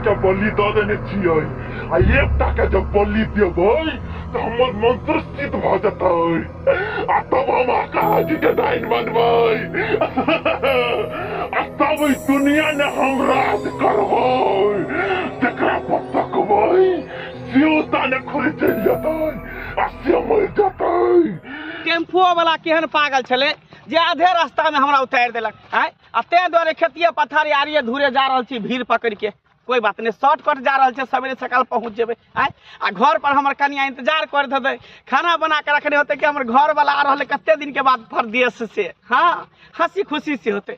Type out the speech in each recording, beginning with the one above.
के बलि दऽ देने छियै आ एकटा के जब बलि देबै तऽ हमर मंत्र सिद्ध भऽ जेतै आ तब हम आकाश के डाइन बनबै आ तब ई दुनिया ने हम राज करबै तेकरा पर तकबै सियोता ने खोले चलि जेतै आ श्यामल जेतै टेम्पुओ वाला केहन पागल छलै जे आधे रास्तामे हमरा उतारि देलक आँय आ ताहि दुआरे खेतिए पथारी आरिये धूरे जा रहल छी भीड़ पकड़िके कोई बात नहि शॉर्टकट जा रहल छै सवेरे सकाल पहुँच जेबै आँय आ घर पर हमर कनिया इंतजार कर देतै खाना बना के रखने होतै कि हमर घर वाला आ रहल है कते दिन के बाद परदेश से हाँ हंसी खुशी से होतै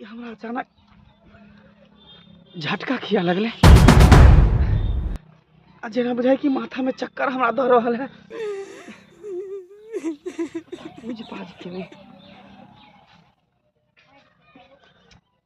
हमरा अचानक झटका खिया लगलै आ जेना बुझाइ कि माथामे चक्कर हमरा दऽ रहल है बुझि पाजि के नहि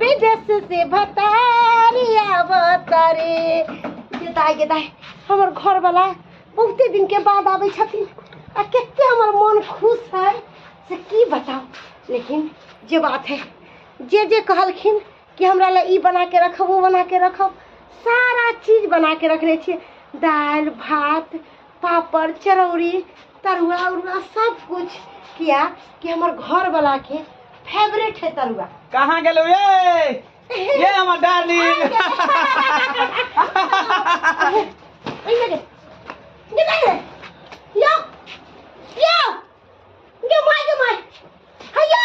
विदेश से भतारी अवतारी ये दाई ये दाई हमर घर वाला बहुते दिन के बाद आबै छथिन आ कते हमर मन खुश है से की बताओ लेकिन जे बात है जे जे कहलखिन कि हमरा लए ई बना के रखब ओ बना के रखब सारा चीज बना के रखने छियै दालि भात पापड़ चरौरी तरुआ उरुआ सब कुछ किया कि हमर घर वाला के फेवरेट है तरुआ कहाँ गेलौ ये ये हमर डार्लिंग ओइ लगे ये लगे यो यो ये माय के माय हाय यो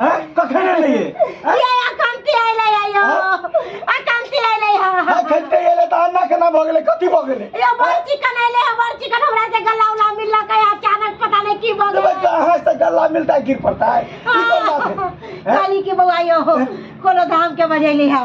हैं कखन एले ये हैं? ये अकांती आइले आयो अकांती आइले हा हैं, खेलते एले त अन्ना केना भ गेले कथी भ गेले ये बड़ चिकन आइले हा बड़ चिकन हमरा से गला उला मिल लगा है अचानक पता नहीं की बग तबे कहाँ से गला मिलता है गिर पड़ता है ई कोन बात है हैं? काली के बउआयो कोनो धाम के बजेली हा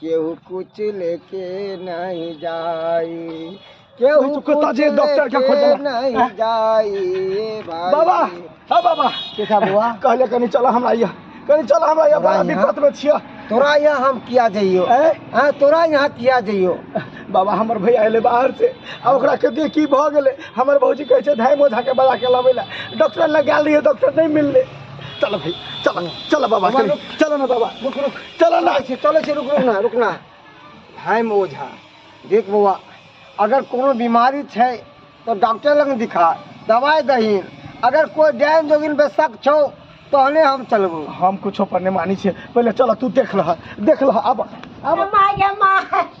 केहू कुछ लेके नहीं जाई केहू नहीं तो कुछ कहता जे डॉक्टर क्या खोजला? लेके नहीं हाँ? जाई ए भाई बाबा हाँ बाबा के का बुआ कहले कनी चला हमरा या कनी चला हमरा या बड़ा हमरा यहाँ? दिक्कत में छिया तोरा यहाँ हम किया जइयो ए? हाँ तोरा यहाँ किया जइयो बाबा हमर भैया अयलै बाहर से आ ओकरा के देख की भऽ गेलै हमर भौजी कहै छै धाइ मोझा के बजा के लाबै लए डॉक्टर लग गेल रहियै डॉक्टर नहि मिललै चल भैया चल चल बाबा बाबा, चल चल ने बाबा रुक रुक चलो ना चले चले चले रुक रुक ना रुक ना भाई में ओझा देख बौआ अगर कोनो बीमारी छै तो डॉक्टर लग दिखा दवाई दही अगर कोई डायन जोगिन पे शक छो तहने हम चलबो हम कुछो पर नहीं मानी छे पहले चलो तू देख लह देख लह अब अब माय गे माय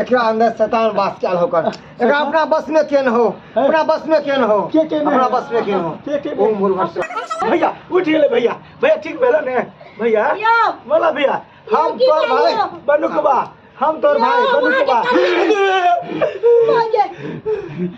एकरा अंदर शैतान वास कयल होकर एकरा अपना बस में केन हो अपना बस में केन हो के के में? अपना बस में केन हो के के में? ओम भूर्भुवः स्वः। भैया उठ गेलै भैया भैया ठीक भेलै ने भैया यौ। बोला भैया हम की तोर भाई कहलियौ? बनुकबा हम तोर भाई यौ, बनुकबा अहाँके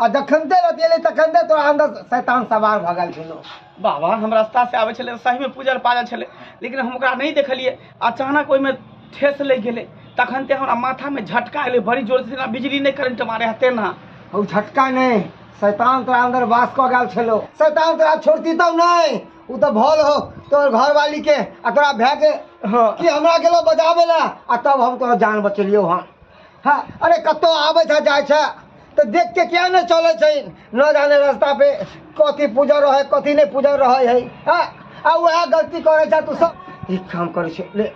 आ जखन ते रहती एले तखन ते तोरा अंदर शैतान सवार भऽ गेल छलो बाबा हम रास्ता से आबै छलै सही में पूजल पाजल छलै लेकिन हम ओकरा नहीं देखलिए अचानक ओहिमे ठेस लग गेलै तखन ते हमरा माथा में झटका एलै बड़ी जोर से बिजली नहीं करंट मारे हते ना ओ झटका नहीं शैतान तोरा अंदर वास कऽ गेल छलो शैतान तोरा छोड़ती तब नहीं ओ तऽ भल हो तोर घरवाली के आ तोरा भए के हाँ। कि हमरा गेलो बजाबे ला आ तब हम तोरा जान बचेलियो हन हाँ अरे कतौ आबै छै जाइ छै तऽ देख के किया नहि चलै छै न जाने रास्ता पे कथी पूजा रहै कथी नहि पूजा रहै है हाँ आ वएह गलती करै छै तू सब एक काम करै छै ले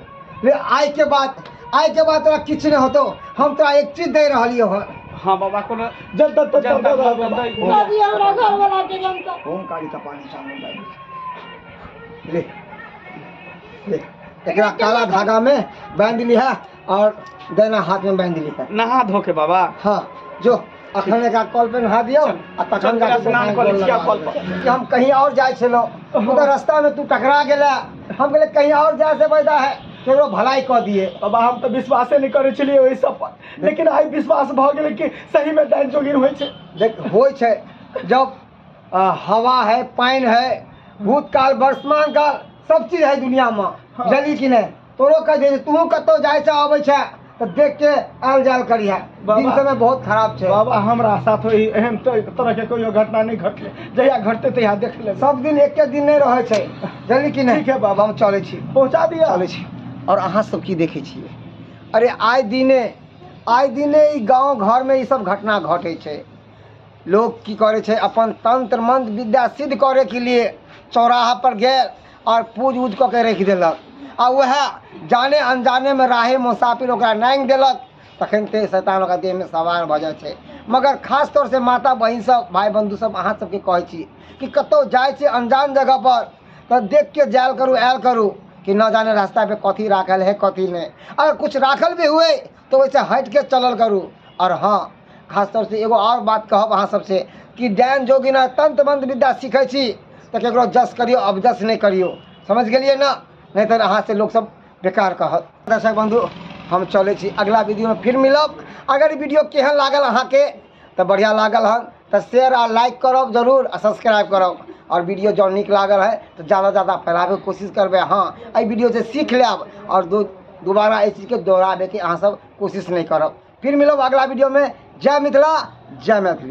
ले आइ के बाद आइ के बाद तोरा किछु नहि होतौ हम तोरा एक चीज दे रहलियौ हँ हाँ बाबा को जब तक तक जब तक- तक- तक- बाबी हमरा घर वाला के जनता ओम काली का पानी चावल डाल ले ले एकरा काला धागा में बांध लिहा और देना हाथ में बांध ली कर नहा धो के बाबा हाँ जो अखन एक कल पे नहा दियो आ तखन चल, जाके स्नान कऽ लै छी, आब कल पर। कि हम कहीं और जाए छलो उधर रास्ता में तू टकरा गेला हम कहले कहीं और जाए से फायदा है केकरो भलाई कह दिए बाबा हम तो विश्वासे नहीं करे छलिए ओहि सब पर लेकिन आई विश्वास भ गेलै कि सही में डाइन जोगिन होइ छै देख होइ छै जब आ, हवा है पानि है भूतकाल वर्तमान काल सब चीज है दुनिया में जली कि नहीं तोरो कह दे तू कतौ जाय छ आबै छ त देख के आल जाल करिया दिन समय बहुत खराब छै बाबा हमरा साथ होई एहन तो तरह के कोई घटना नहीं घटले जहिया घटते तहिया देख ले सब दिन एक के दिन नहीं रहे छै जल्दी कि नहीं ठीक है बाबा हम चले छी पहुंचा दिया चले छी और अहा सब की देखे छी अरे आय दिने आय दिने ई गांव घर में ई सब घटना घटे छै लोग की करे छै अपन तंत्र मंत्र विद्या सिद्ध करे के लिए चौराहा पर गेल आओर पूज उज कऽ के राखि देलक आ उएह जाने अनजानेमे राहे मोसाफिर ओकरा नागि देलक तखन ते शैतान ओकरा देहमे सवार भऽ जाइ छै मगर खास तौर से माता बहिन सब भाय बंधु सब अहाँ सबके कहै छी कि कतौ जाइ छी अनजान जगह पर तऽ देख के जायल करू आयल करू कि न जाने रास्ता पे कथी राखल है कथी नहि अगर कुछ राखल भी हुए तो वैसे हट के चलल करू और हाँ खास तौर से एगो और बात कहब अहाँ सबसे कि डैन जोगिना तंत्र मंत्र विद्या सीखे छी तो केकरो जस करियो अब जस नहीं करियो समझ गलिए ना नहीं तो अहाँ से लोग सब बेकार कहत दर्शक बंधु हम चले छी अगला वीडियो में फिर मिलब अगर वीडियो केहन लागल अहाँ के तऽ बढ़िआँ लागल हन तऽ शेयर आ लाइक करब जरूर आ सब्सक्राइब करब आओर वीडियो जँ नीक लागल है तऽ जादा जादा फैलाबैके कोशिश करबै हँ एहि वीडियो से सीख लेब आओर दो दोबारा एहि चीजके दोहराबैके अहाँ सब कोशिश नहि करब फिर मिलब अगला वीडियोमे जय मिथिला जय मैथिली